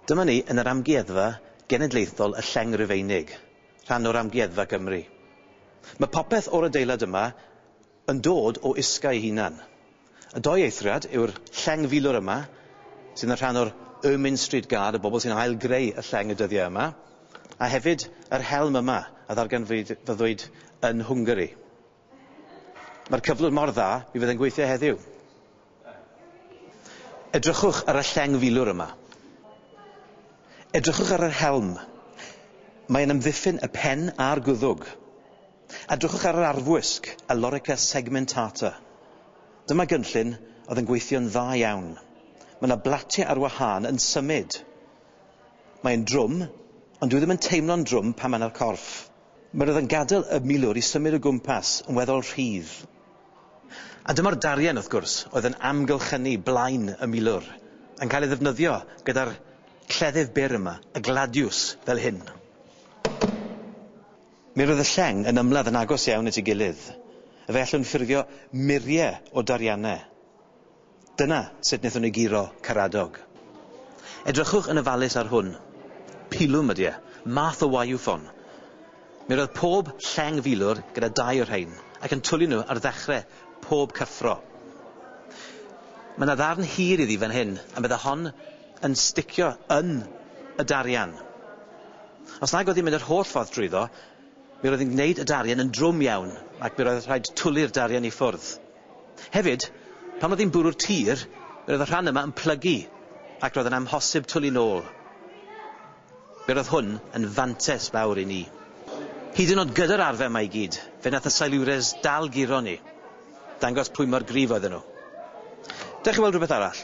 Dyma ni yn yr Amgueddfa Genedlaethol y Lleng Rufeinig, rhan o'r Amgueddfa Gymru. Mae popeth o'r adeilad yma yn dod o Isca ei hunan. Y dou eithriad yw'r lleng filwr yma, sydd yn rhan o'r Ermine Street Guard, y bobl sy'n ail-greu y lleng y dyddiau yma, a hefyd yr helm yma a ddarganfyddwyd yn Hwngari. Mae'r cyflwr mor dda, mi fydd e'n gweithio heddiw. Edrychwch ar y lleng filwr yma. Edrychwch ar yr helm. Mae'n amddiffyn y pen a'r gwddwg. Edrychwch ar yr arfwisg, Ellorica segmentata. Dyma gynllun oedd yn gweithio'n dda iawn. Mae yna blatiau ar wahân yn symud. Mae e'n drwm, ond dyw e ddim yn teimlo'n drwm pan mae yna'r corff. Mae roedd yn gadael y milwr i symud o gwmpas yn weddol rhydd. A dyma'r darien, wrth gwrs, oedd yn amgylchynu blaen y milwr, yn cael ei ddefnyddio gyda'r cleddyf byr yma, y gladiws, fel hyn. Mi roedd y lleng yn ymladd yn agos iawn at ei gilydd. Fe allwn ffurfio murie o darianne. Dyna sut wnaethon ni guro Caradog. Edrychwch yn ofalus ar hwn. Pilwm ydy e. Math o wayou ffon. Mi roedd pob lleng filwr gyda dau o rhein, ac yn twlu nhw ar ddechre pob cyffro. Mae 'na ddarn hir iddi fan hyn, a medda hon, yn sticio yn y darian. Os nag oedd hi'n mynd yr holl ffordd drwyddo, mi roedd hi'n gwneud y darian yn drwm iawn ac mi roedd rhaid twli'r darian i ffwrdd. Hefyd, pan oedd hi'n bwrw'r tir, mi roedd y rhan yma yn plygu ac roedd yn amhosib twli nôl. Fe roedd hwn yn fantes fawr i ni. Hyd yn oed gyda'r arfer 'ma i gyd, fe nath y Silures dal guro ni. Dangos pwy mor gryf oedden nhw. Dewch i weld rhywbeth arall.